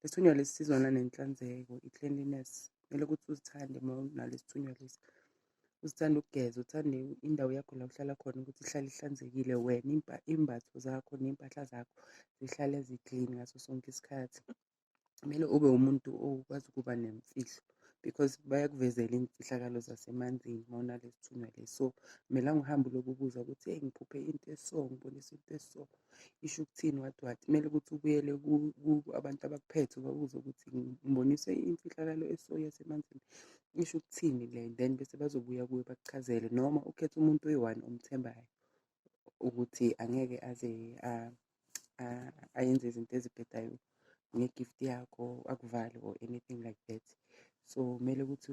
Lesithunywa lesi sizwana nenhlanzeko, i-cleanliness. Kumele ukuthi uzithande uma unalesithunywa lesi. Uzithande ukugeza, uthande indawo yakho la uhlala khona ukuthi ihlale ihlanzekile wena, imbatho zakho ney'mpahla zakho zihlale zi-clean ngaso sonke isikhathi. Kumele ube umuntu okwazi ukuba nemfihlo. because bayakuvezela iy'mfihlakalo zasemanzini uma unalesi thunywa lesi so kumele angihambe ulokubuza ukuthi eyi ngiphuphe into eso ngibonisa into eso isho ukuthini what what kumele ukuthi ubuyele abantu abakuphethe ubabuze ukuthi ngiboniswe imfihlakalo eso yasemanzini isho ukuthini le then bese bazobuya kuwe bakuchazele noma ukhetha umuntu oyi-one omthembayo ukuthi angeke aze ayenze izinto ezibhedayo nge-gift yakho akuvale or anything like that so kumele ukuthi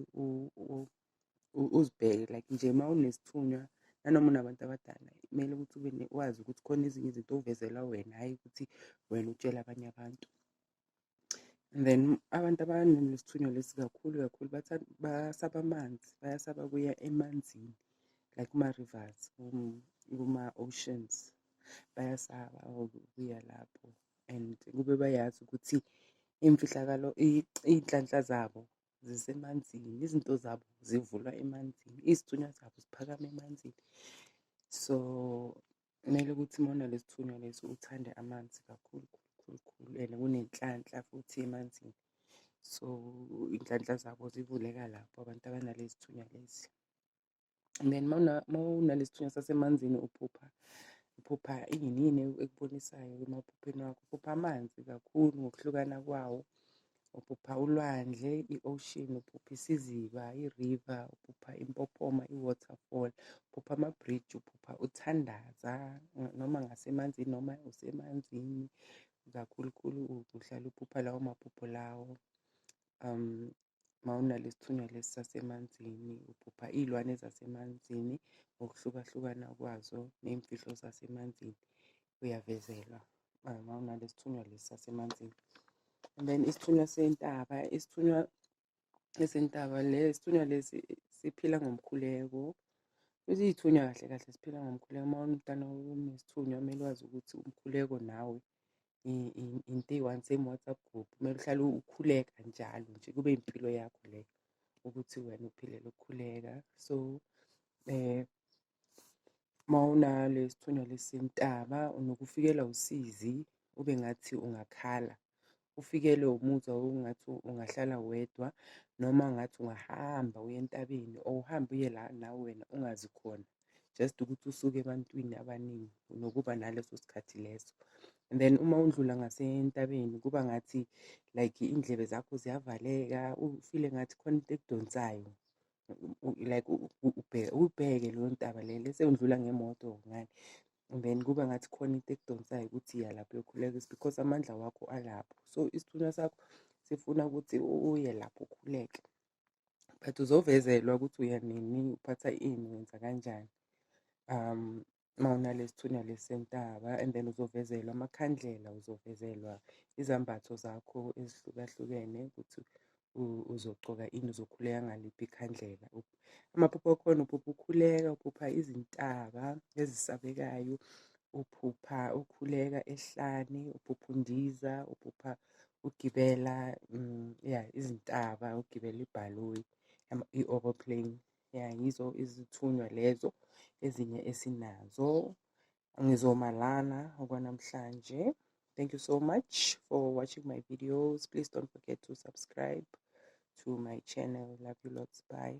uzibheke like nje uma unesithunywa nanoma unabantu abadala kumele ukuthi ube wazi ukuthi khona ezinye izinto ovezela wena hhayi ukuthi wena utshela abanye abantu and then abantu abanesithunywa lesi kakhulu kakhulu basaba amanzi bayasaba kuya emanzini like kuma-rivers kuma-oceans bayasaba ukuya lapho and kube bayazi ukuthi imfihlakalo iy'nhlanhla zabo zisemanzini izinto zabo zivulwa emanzini izithunywa zabo ziphakama emanzini so Kumele ukuthi uma unalesithunywa lesi uthande amanzi kakhulu khulu khulu and kunenhlanhla futhi emanzini. So iy'nhlanhla zabo zivuleka lapho abantu abanalezithunywa lezi. And then uma unalesithunywa sasemanzini uphupha uphupha ini yini ekubonisayo emaphupheni wakho? Uphupha amanzi kakhulu ngokuhlukana kwawo uphupha ulwandle i-ocean uphupha isiziba i-river uphupha impophoma i-waterfall uphupha ama-bridge uphupha uthandaza noma ngasemanzini noma usemanzini kakhulukhulu uhlala uphupha lawo maphupho lawo um mawunalesithunywa lesi sasemanzini uphupha iy'lwane zasemanzini ngokuhlukahlukana kwazo ney'mfihlo zasemanzini uyavezelwa uma unalesithunywa lesi sasemanzini and then isithunywa sentaba isithunywa esentaba le isithunywa lesi siphila ngomkhuleko futhi iy'thunywa kahle kahle siphila ngomkhuleko uma umntana unesithunywa kumele wazi ukuthi umkhuleko nawe into eyi-one same whatsapp group kumele uhlale ukhuleka njalo nje kube impilo yakho leyo ukuthi wena uphilele ukukhuleka so um Uma unalesithunywa lesintaba unokufikelwa usizi ube ngathi ungakhala. Ufikelwe umuzwa wokungathi ungahlala wedwa noma ngathi ungahamba uye entabeni or uhambe uye la nawe wena ungazi khona. Just ukuthi usuke ebantwini abaningi unokuba naleso sikhathi leso. And then uma undlula ngasentabeni kuba ngathi like iy'ndlebe zakho ziyavaleka ufile ngathi khona into ekudonsayo u- u- like u- u- ubheke ubheke leyo ntaba le lese undlula ngemoto ngani and then kuba ngathi khona into ekudonsayo ukuthi iya lapho uyokhuleka is because amandla wakho alapho so isithunywa sakho sifuna ukuthi u- uye lapho ukhuleke but uzovezelwa ukuthi uya nini uphatha ini wenza kanjani um uma unalesithunywa lesentaba and then uzovezelwa amakhandlela uzovezelwa izambatho zakho ezihlukahlukene ukuthi uzogcoka ini uzokhuleka ngaliphi ikhandlela amaphupho akhona uphupha ukhuleka uphupha izintaba ezisabekayo uphupha ukhuleka ehlane uphupha undiza uphupha ugibela mm, ya izintaba ugibela ibhaloyi i-oroplane ya yizo izithunywa lezo ezinye esinazo ngizoma lana okwanamhlanje thank you so much for watching my videos please don't forget to subscribe to my channel love you lots bye